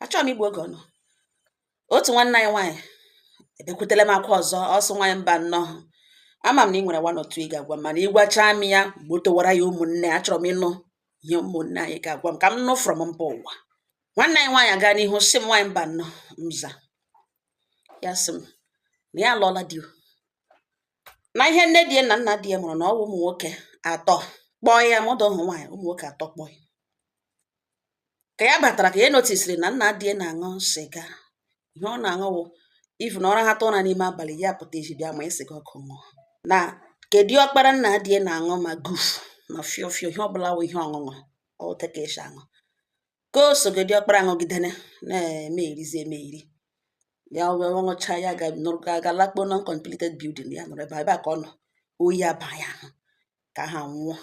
achọghị m igbu oge ọnụ otu nwanne anyị nwaanyị ebekwutela m akwa ọzọ ọ sị nwaanyị mba nnọọ ama m na ị nwere one or two ị ga-agwa m mana ịgwachaa m ya gbotowara ya ụmụnne achọrọ m ịnụ ihe ụmụnne anyị ga-agwa m ka m nụ from mba ụwa nwanne anyị nwaanyị aga n'ihu sị m nwaanyị mba nnọọ mza ya sị m na ya alụọla di o. na ihe nne di ya na nna di ya mụrụ na ọ bụ ụmụ nwoke atọ kpọọ ya mụda ụmụ nwaanyị ụmụ nwoke atọ kpọọ ya ka ya batara ka ya notisiri na nna di ya na-aṅụ sịga ihe ọ na-aṅụ wụ ifu na ọ rahatụ ụra n'ime abalị ya pụta ezi bịa ma sịga ọkụ ṅụọ na ke diọkpara nna di ya na-aṅụ ma guf ma fio fio ihe ọbụla wụ ihe ọṅụṅụ otu a ka esi aṅụ ke soga diọkpara aṅụgidene na-emerizi emeri ya wee ṅụcha ya ga nụrụ ga aga lakpuo uncompleted building ya nọrọ ebe a ebe a ka ọ nọ oyi abaa ya ahụ ke ahụ anwụọ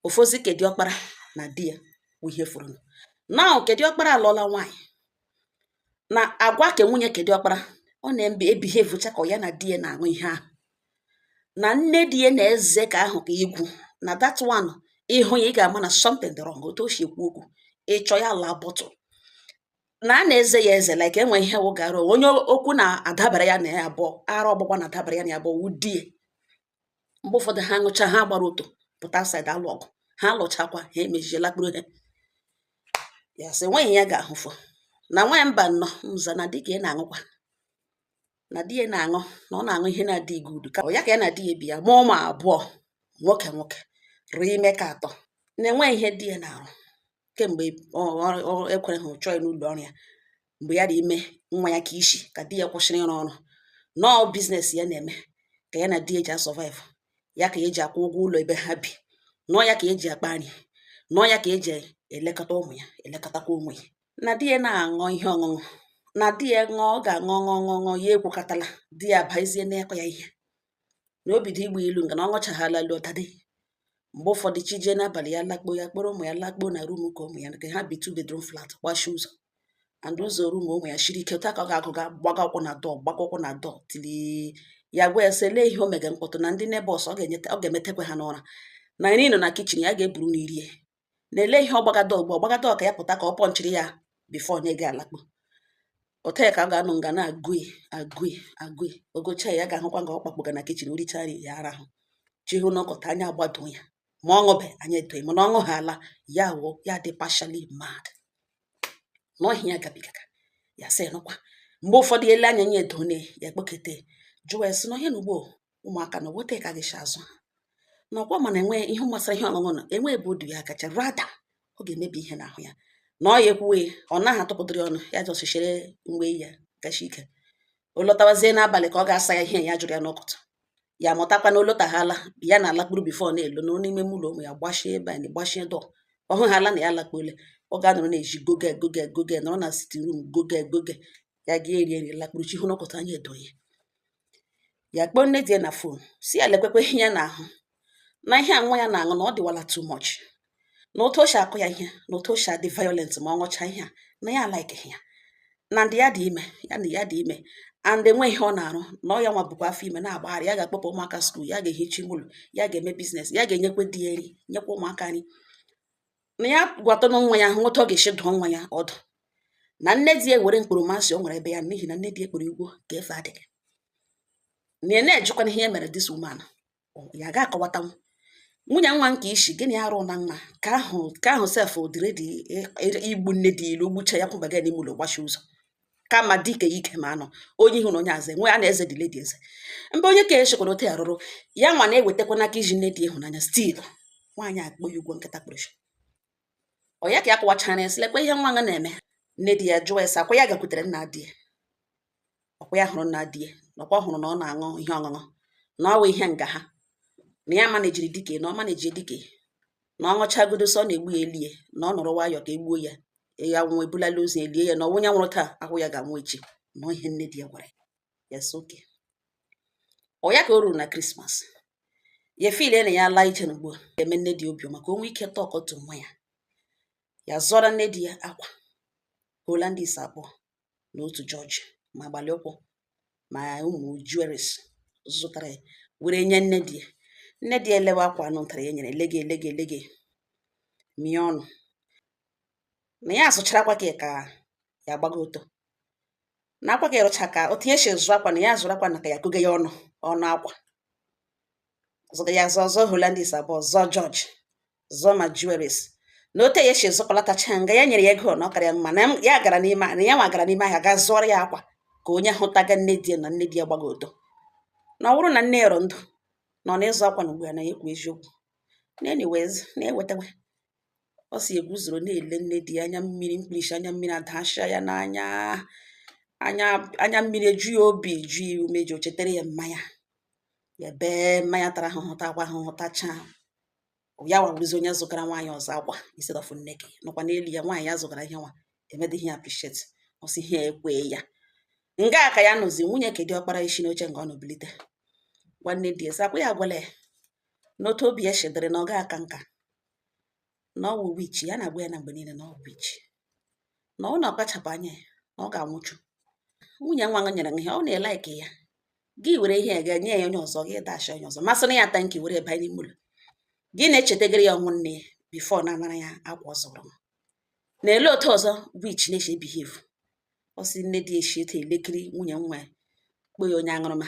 ọ fọzi ke diọkpara na di ya bụ ihe fọrọnụ now ke diọkpara alụọla nwaanyị na agwa ke nwunye ke diọkpara ọ na-ebehavecha ka ọ ya na di ya na-aṅụ ihe ahụ na nne di ya na-eze ke ahụ ka igwu na that one ịhụ ya ị ga-ama na something dị wrong otu o si ekwu okwu ịchọ ya laa bọtụl na a na-eze ya eze like enwe ihe wụ gara onye okwu na-adabara ya na ya abụọ ara ọgbụgba na-adabara ya na ya abụọ wụ di ya mgbe ụfọdụ ha ṅụcha ha gbara ọtọ pụta outside alụ ọgụ ha lụchakwa ha emezie lakpuru ha ya sị nwaanyị ya ga-ahụfụ na nwaanyị mba nnọọ mza na di ke ya na-aṅụkwa na di ya na-aṅụ na ọ na-aṅụ ihe na-adịghị good ka ya ka ya na di ya bi ya mụọ ụmụ abụọ nwoke nwoke rị ime ke atọ na-enwe ihe di ya na-arụ kemgbe ekwere ha chụọ n'ụlọ ọrụ ya mgbe ya dị ime nwa ya ke isi ka di ya kwụsịrị ịrụ ọrụ na ọọ biznes ya na-eme ka ya na di ya ji asurvive ya ka eji akwụ ụgwọ ụlọ ebe ha bi na ọọ ya ka eji akpa nri na ọọ ya ka eji elekọta ụmụ ya elekọtakwa onwe ya na di ya na-aṅụ ihe ọṅụṅụ na di ya ṅụọ ọ ga-aṅụ ọṅụ ọṅụ ọṅụ ya ekwukọtala di ya abazie n'ịkụ ya ihe na o bido igba ilu nga na ọ ṅụchaghala lọtadị mgbe ụfọdụ chi jie n'abalị ya lakpuo ya kpọrọ ụmụ ya lakpuo na rum ke ụmụ ya nke ha bi two bedroom flat gbachi ụzọ and ụzọ rum ụmụ ya shiri ike otu a ka ọ ga-agụga gbaga ụkwụ na dọọ gbaga ụkwụ na dọọ tili ya gwa ya sị lee ihe o mega mkpọtụ na ndị nebọs ọ ga-emetekwa ha n'ụra na nri nọ na kichin ya ga-eburu na irie na lee ihe ọ gbaga dọọ ugbu ọ gbaga dọọ ka ya pụta ka ọ pọnchiri ya bifo onye ga-alakpu otu a ka ọ ga-anọ nga na-agụi agụi agụi ọ gụcha ya ga-ahụkwa nga ọ kpakpụga na kichin richa nri ya arahụ chi fo na ọkọta anya agbado ya ma ọ ṅụbe anya edoghị mana ọ ṅụhala ya wụ ya dị partially mad na ọ ihe ya gabigaga ya sị nụkwa mgbe ụfọdụ ele anya ya edone ya kpọkete jụọ ya sị na ọhịa na ugbo ụmụaka na ọ wụ otu a ka ị ga-esi azụ ha na ọkwa ma na enwe ihe gbasara ihe ọṅụṅụ na enwe ebe o du ya aga rather ọ ga-emebi ihe n'ahụ ya na ọ ya ekwuwe ọ naghị atụpụtara ọnụ ya ji ọsịchịrị mgbe ya gachi ike ọ lọtawazie n'abalị ka ọ ga-asa ya ihe ya jụrụ ya n'ụtụtụ ya mụtakwa na ọ lọtaghala ya na-alakpuru bifo ọ na-alọ nọ n'ime ụlọ ụmụ ya gbachie ebe anyị gbachie door ọ hụghala na ya alakpuole ọ ga-anọrọ na-eji goge goge goge nọrọ na sitting room goge goge ya ga-eri nri lakpuru chi hoo n'ụtụtụ anya edo ya ya kpọọ nne di ya na fon sị ya lekwekwe ihe ya na-ahụ na ihe a nwa ya na-aṅụ na ọ dịwala too much na otu o si akụ ya ihe na otu o si adị violent ma ọ ṅụchaa ihe a na ya alaikeghị ya and ya dị ime ya na ya dị ime and enwe ihe ọ na-arụ na ọ ya nwa bukwa afọ ime na-agbagharị ya ga-akpọpụ ụmụaka skuul ya ga-ehicha ụlọ ya ga-eme biznes ya ga-enyekwe di ya nri nyekwa ụmụaka nri na ya gwatụnụ nwa ya hụ otu ọ ga-esi dụọ nwa ya ọdụ na nne di ya nwere mkpọrọmasị o nwere ebe ya n'ihi na nne di ya kpọrọ ya ugwo ka efe adịghị na ya na-ejikwana ihe ya mere this woman ya ga-akọwatanwu nwunye nwa nke isi gịnị arụ na nwa ka ahụ ka ahụ sef ọ dị ready igbu nne di ilu gbucha ya kwaba ya n'ime ụlọ gbachi ụzọ kama dike ike ma anọ onye ihu na onye azụ enwe a na-eze dile dị eze mba onye ka echekwana ote arụrụ ya nwa na-ewetakwa n'aka iji nne di ịhụnanya still nwaanyị akpọ ya ugwo nkịta kpọrọ nchi ọ ya ka ya kọwachara ya sị lekwa ihe nwa ya na-eme nne di ya jụọ ya sị ọkwa ya gakwutere nna di ya ọkwa ya hụrụ nna di ya na ọkwa hụrụ na ọ na-aṅụ ihe ọṅụṅụ na ọ wụ ihe nga ha na ya manejiri dike na ọ maneji dike na ọ ṅụchagodo sọ ọ na-egbu ya elie na ọ nọrọ nwayọọ ka e gbuo ya ya nwụọ e bulala ozu e lie ya na ọnwụ ya nwụrụ taa wụ ya ga-anwụ echi na ọ ihe nne di ya gwara ya sị okay ọ ya ka o ruru na krismas ya efile na ya laa ije na ugbu a eme nne di obiọma ka o nwee ike talk to nwa ya ya zụọrọ nne di ya akwa holandis abụọ na otu george ma gbalị ụkwụ ma ụmụ jewelries zụtara ya were nye nne di ya nne di ya elewe akwa anụ ntara ya nyere elege elege elege mie ọnụ na ya azụchara akwa ka ka ya gbaga ọtọ na akwa ka ịrụcha ka o tinye isi zụọ akwa na ya zụrụ akwa na ka ya kọge ya ọnụ ọnụ akwa zụga ya zụọ zụọ holandis abụọ zụọ george zụọ ma jewelries na otu ya si zụkọlatacha nga ya nyere ya ego na ọ kara ya mma na ya gara n'ime na ya nwa gara n'ime ahịa gaa zụọrọ ya akwa ka onye hụtaga nne di na nne di ya gbaga ọtọ na ọ bụrụ na nne ya nọ ndụ na ọ na-ịzụ akwa na ugbu a na ya ekwu eziokwu na anyways na-ewetawa ọ si eguzoro na-ele nne di ya anya mmiri mkpirisi anya mmiri adachia ya n'anya anya anya mmiri eju ya obi eju ya ume ji o chetara ya mama ya ya bee mama ya tara ahụhụ takwa ahụhụ tachaa ya nwa bụrụzi onye zụgara nwaanyị ọzọ akwa instead of nne gị nọkwa n'elu ya nwaanyị ya zụgara ihe nwa emedịghị ya appreciate ọ sị ihe ekwe ya nga ka ya nọzi nwunye ke dị ọkpara esi n'oche nga ọ nọ bilite gwa nne di ya sị ọkwa ya agwala ya n'otu obi ya shi dịrị na ọ ga aka nka na ọ wụ witch ya na-agwa ya na mgbe niile na ọ wụ witch na ọ na-akpachapụ anya ya na ọ ga-anwụchu nwunye nwa nyere ihe ọ na-elike ya gị were ihe ga nye ya onye ọzọ gị dash onye ọzọ ma sịrị ya thank you were banye n'ime ụlọ gị na-echetagara ya ọnwụ nne ya before na anara ya akwa ọ zụrụ na ele otu ọzọ witch na-eshi behave ọ sị nne di eshi etu elekiri nwunye nwa ya kpọ ya onye aṅụrụma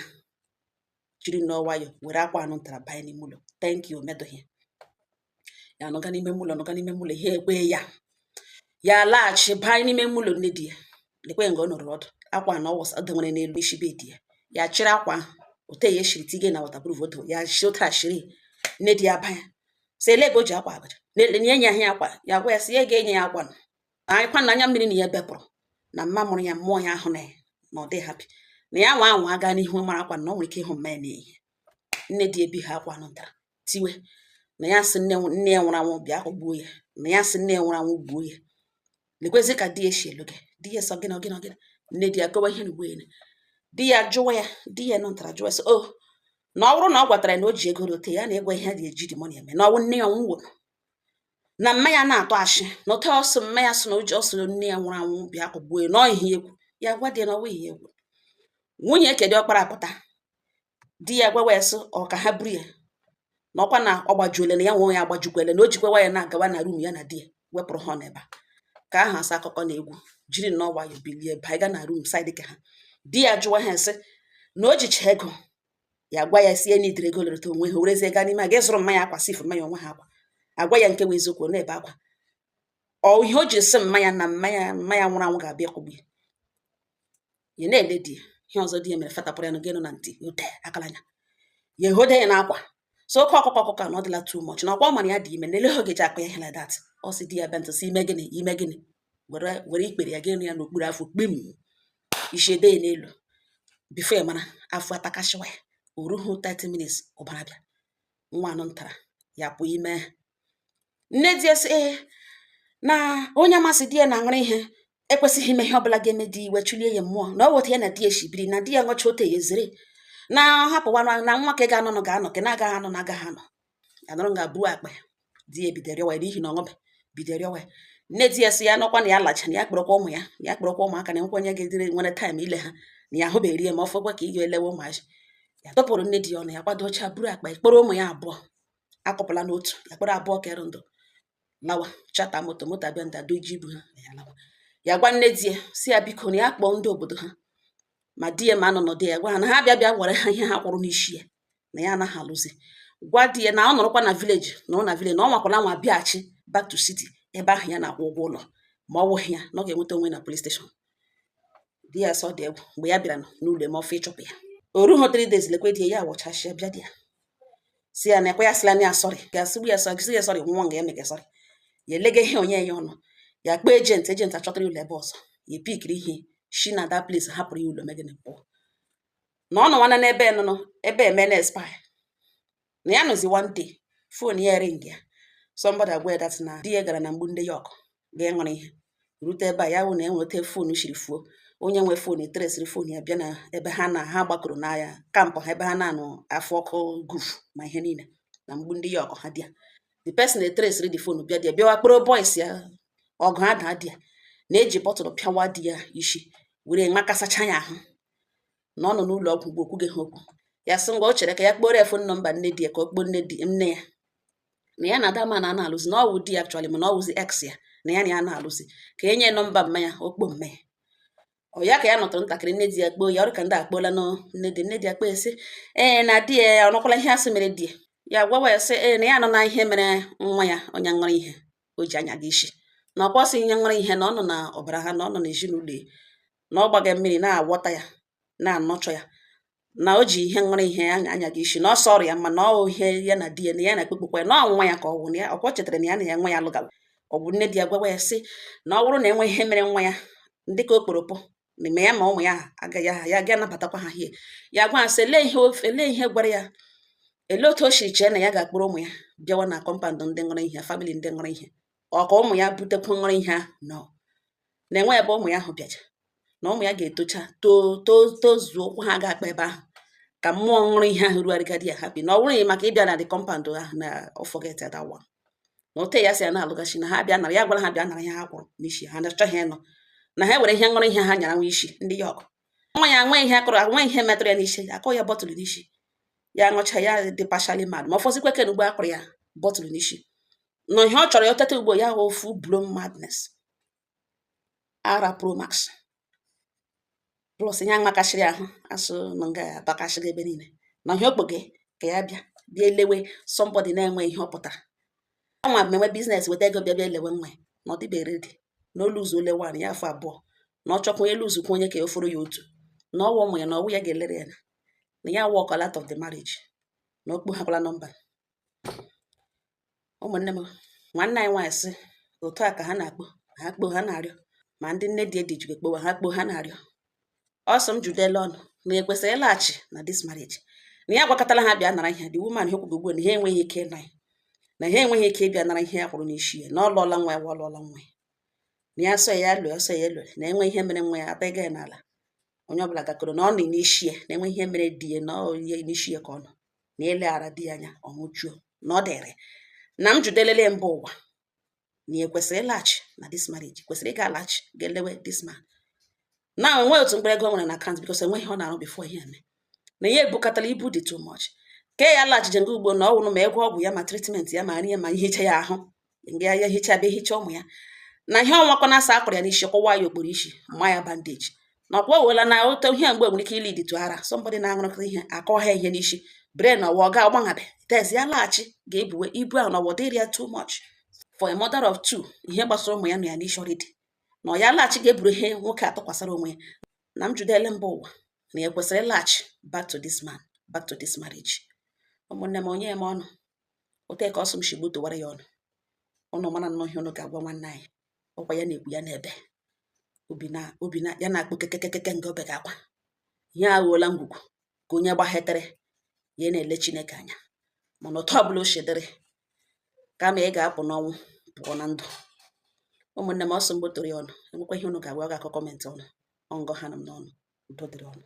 jiri nnọọ nwayọ were akwa anụ ntara banye n'ime ụlọ thank you o medụghị ya nọga n'ime ụlọ nọga n'ime ụlọ ihe ekwe ya ya laghachi baa n'ime ụlọ nne di ya lekwe nga ọ nọrọ ọdụ akwa na ọwụsa ọ dewere n'elu isi bed ya ya chịrị akwa ahụ ote ya eshiri tige na waterproof oto ya shi otu a shiri nne di ya banya sị ele ebe o ji akwa abara na-ele nye ya ahịa akwa ya gwa ya si ya ga-enye ya akwa anyịkwa na anya mmiri na ya bepụrụ na mma mụrụ ya nwụọ ya ahụ na ya na ọ dị happy na ya nwa anwa aga n'ihu mara akwa na o nwere ike ịhụ mma ya n'ihe nne di ebi ha akwa anụ ntara tiwe na ya sị nne nne ya nwụrụ anwụ bịa kụgbuo ya na ya sị nne ya nwụrụ anwụ gbuo ya lekwezi ka di ya si elu gị di ya sị ọ gịnị gịnị gịnị nne di ya kọwa ihe n'ugbo ya di ya jụwa ya di anụ ntara jụwa sị o oh, na ọ bụrụ na ọ gwatara na o ji ego rote ya na ịgwa ihe dị eji dị money eme na ọnwụ nne ya nwụrụ na mma ya na-atụ ashị na ote ọsọ mma ya sị na o ji ọsọ nne ya nwụrụ anwụ bịa kụgbuo ya na ọ ihe egwu ya gwa di ya na ọwa ihe egwu nwunye ke dị ọkpara pụta di ya gwawa ya sị ọ ka ha buru ya na ọkwa na ọ gbajuole na ya nwe onwe ya agbajukwele na o jikwewa ya na-agawa na room ya na di ya wepụrụ ha n'ebe a ka aha asa akụkọ na egwu jiri nnọọ nwayọ bilie baa ga na room side ke ha di ya jụwa ha sị na o jicha ego ya gwa ya sie n'idere ego lereta onwe ha werezie gaa n'ime a ga zụrụ mma ya akwa sif mma ya onwe ha akwa agwa ya nke wụ eziokwu na ebe akwa ọ ihe o ji sị mma ya na mma ya nwụrụ anwụ ga-abịa kụgbu ya ya na-ele di ya ihe ọzọ di ya mere fatapụrụ ya na gịnụ na ntị ute akala anya ya ehode ya n'akwa sị oke ọkụkụ ọkụkụ na ọ dịla too much na ọkwa mara ya dị ime na ele oge ji akpa ya ihe like that ọ sị di ya bịa ntụsị ime gịnị ime gịnị were were ikpere ya gịnụ ya n'okpuru afọ kpim isi ede ya n'elu before ya mara afọ atakasịwa ya o ruhu 30 minutes ụbara bịa nwa anụ ntara ya pụọ ime nne di ya sị ee na onye ma sị di ya na-aṅụrụ ihe ekwesịghị ime ihe ọbụla ga-eme di iwe chụlie ya mmụọ na ọ weta ya na di ya shibiri na di ya ṅụcha ote ya ezere na ọ hapụwa na nwa ke ga-anọ nọ ga-anọ ke na-agaghị anọ na agaghị anọ ya nọrọ nga buo akpa ya di ya ebido rịọwa ya n'ihi na ọ ṅụbe bido rịọwa ya nne di ya sị ya nọkwa na ya lacha na ya kpọrọkwa ụmụ ya na ya kpọrọkwa ụmụaka na nkwenye ga-edere nwere time ile ha na ya ahụbeghị ya ma ọ fọkwa ka ị ga-elewe ụmụazị ya tọpụrụ nne di ya ọnụ ya kwadocha buru akpa ya kpọrọ ụmụ ya abụọ akọpụla n'otu ya kpọrọ abụọ kere ndụ lawa chata moto moto abịa ndị adoji ibu ha ya lawa ya gwa nne di ya sị ya biko na ya kpọọ ndị obodo ha ma di ya ma anọ nọdụ ya gwa ha na ha bịa bịa were ha ihe ha kwụrụ n'isi ya na ya anaghị alụzi gwa di ya na ọ nọrọkwa na vileji na ọ na vileji na ọ nwakwala anwa bịaghachi back to city ebe ahụ ya na-akwụ ụgwọ ụlọ ma ọ wụghị ya na ọ ga-enweta onwe na polis steshọn di ya sị ọ dị egwu mgbe ya bịara n'ụlọ eme ọfụ ịchụpụ ya o rughị three days lekwe di ya ya wọchachịa bịa di ya sị ya na ọkwa ya sịla na ya sọrị ga-asịgbu ya sọrị ya sọrị nwa nga ya mega sọrị ya elega ihe onye ya anya ya kpọọ ejenti ejenti achọtara ụlọ ebe ọzọ ya pikiri ihe shi na that place hapụrụ ya ụlọ mee gịnị pụọ na ọ nọ nwana n'ebe nụnụ ebe eme na expire na ya nọzi one day fon ya ring ya somebody agwa ya that na di ya gara na mgbu ndị ya ọkụ ga ṅụrụ ihe rute ebe a ya wụ na enweta fon shiri fuo onye nwe fon etresịrị fon ya bịa na ebe ha na ha gbakọrọ n'ahịa kampụ ha ebe ha na-anọ afụ ọkụ guf ma ihe niile na mgbu ndị ya ọkụ ha bịa the person etresịrị the fon bịa di ya bịawa kpọrọ boys ya ọgụ adaa di ya na-eji bọtụlụ pịawa di ya isi were makasacha ya ahụ na ọ nọ n'ụlọ ọgwụ mgbe o kwughị ha okwu ya sị ngwa o chere ka ya kpọrọ ya fon nọmba nne di ya ka ọ kpọọ nne di nne ya na ya na that man anaghị alụzi na ọ wụ di ya actually mana ọ wụzi ex ya na ya na ya anaghị alụzi ka e nye nọmba mama ya ọ kpọọ mama ya ọ ya ka ya nọtụrụ ntakịrị nne di ya kpọọ ya ọ dị ka ndị akpọọlanụ nne di nne di ya kpọọ ya sị ee na di ya ọ nụkwala ihe a sị mere di ya ya gwawa ya sị ee na ya anụna ihe mere nwa ya onye ṅụrụ ihe o ji anyaga isi na ọkwa ọ sị ihe ṅụrụ ihe na ọ nọ na ọbara ha na ọ nọ na ezinụlọ na ọ gbaga mmiri na a gwọta ya na ọ ṅụchaa ya na o ji ihe ṅụrụ ihe ya anyaga isi na ọ sọrọ ya mma na ọ ihe ya na di ya na ya na ekpekpekwa ya na ọ nwa ya ka ọ wụ na ya ọkwa o chetara na ya na ya nwa ya lụgawa ọ bụ nne di ya gwawa ya sị na ọ bụrụ na e nwe ihe mere nwa ya dị ka okporopụ ma ya ma ụmụ ya agaghị aha ya ga-anabatakwa ha hie ya gwa sị lee ihe ofe lee ihe gwara ya elee otu o si chee na ya ga-akpọrọ ụmụ ya bịawa na kọmpandụ ndị ṅụrụ ihe famili ndị ṅụrụ ihe ọ ka ụmụ ya butekwa ṅụrụ ihe ahụ nọ na enweghị ebe ụmụ ya ahụ bịaja na ụmụ ya ga-etocha too too tozuo ukwu ha ga-akpa ebe ahụ ka mmụọ ṅụrụ ihe ahụ rugharịgadi ya ha bi na ọ bụrụ maka ịbịa na the kọmpand ahụ na ọ forget that one na o tee ya sị ya na-alụgachi na ha bịa nara ya gwara ha bịa nara ihe ha kwụrụ n'isi ha na-achọghị ịnụ na ha were ihe ṅụrụ ihe ha nyara nwa isi ndị ya ọkụ nwa ya nwe ihe a kụrụ nwe ihe metụrụ ya n'isi akụ ya bọtụlụ n'isi ya ṅụcha ya dị partially mad ma ọ fọzikwa ke ugbu a a kụrụ ya bọtụlụ n'isi na ihe ọ chọrọ ya teta ugbu a wụ full blown madness ara pro max plus ihe emekasịrị ahụ asụ na nga ya gbakasịrị ebe niile na ihe okpoge ka ya bịa bịa elewe somebody na-enwe ihe ọ pụtara anwa mmewe business weta ego bịa bịa elewe nwa na ọ dịbere dị na olu ụzọ ole wan ya afọ abụọ na ọ chọkwa elu ụzọ onye ka ya oforo ya otu na ọ wụ ụmụ ya na ọ wụ ya ga-elere ya na ya walk out of the marriage na okpu hakwala nọmba ụmụnne m nwanne anyị nwaanyị sị otu a ka ha na-akpọ ha kpọọ ha na-arịọ ma ndị nne di edi jikwa akpọwa ha kpọọ ha na-arịọ ọ sị m jụdele ụnụ na ya kwesịrị ịlaghachi na this marriage na ya agwakatala ha bịa nara ihe the woman ha kwugo ugbu na ha enweghị ike ịna ya na ha enweghị ike ịbịa nara ihe ya kwụrụ n'isi ya na ọ lụọla nwa ya wa ọ lụọla nwa ya na ya sọ ya lụọ ọ sọ ya lụọ na enwe ihe mere nwa ya ata ịga ya n'ala onye ọbụla gakọrọ na ọ nọ n'isi ya na enwe ihe mere di ya na ọ ya n'isi ya ka ọ nọ na eleghara di ya anya ọ nwụchuo na ọ dịrị na m jụdelele mba ụwa na ya kwesịrị ịlaghachi na this marriage kwesịrị ịga alaghachi ga-elewe this man na enweghị otu mkpụrụ ego o nwere na account because enweghị ihe ọ na-arụ before ihe eme na ya ebukatala ibu dị too much ka ya laghachije nga ugbu a na ọ wụrụ ma ego ọgwụ ya ma treatment ya ma nri ya ma ihicha ya ahụ mgbe ya ya hichaa bịa hichaa ụmụ ya na ihe ọnwakwa na asa akpọrọ ya n'isi kụwa ya okporo isi ma ya bandage na ọkwa owela na ote ihe mgbe nwere ike ilead to ara somebody na-aṅụrụkọ ihe a kụwa ha ihe n'isi brain ọwa ọ ga ọgbanhabe tez ya laghachi ga-ebuwe ibu ahụ na ọ ga-adịrị ya too much for a mother of two ihe gbasara ụmụ ya nọ ya n'isi already na ọ ya laghachi ga-eburu ihe nwoke atụkwasara onwe ya na m jụdele mba ụwa na ya kwesịrị ịlaghachi back to this man back to this marriage ụmụnne m onye m ọnụ otu ka ọ sị m si gbotowara ya ụnụ ụnụ mara nnọọ ihe ụnụ ga-agwa nwanne anyị ọkwa ya na-ekwu ya na-ebe obi na obi na ya na-akpọ kekekekeke nke obe ga-akwa ihe aghọọla ngwugwu ka onye gbahetere ya na-ele Chineke anya mana otu ọbụla o si dịrị kama ị ga-apụ n'ọnwụ pụọ na ndụ ụmụnne m ọ sị m gbotoro ya ụnụ enwekwa ihe ụnụ ga-agwa ọ ga-akọ comment ọnụ ọngọ ha nọ m n'ọnụ udo dịrị ụnụ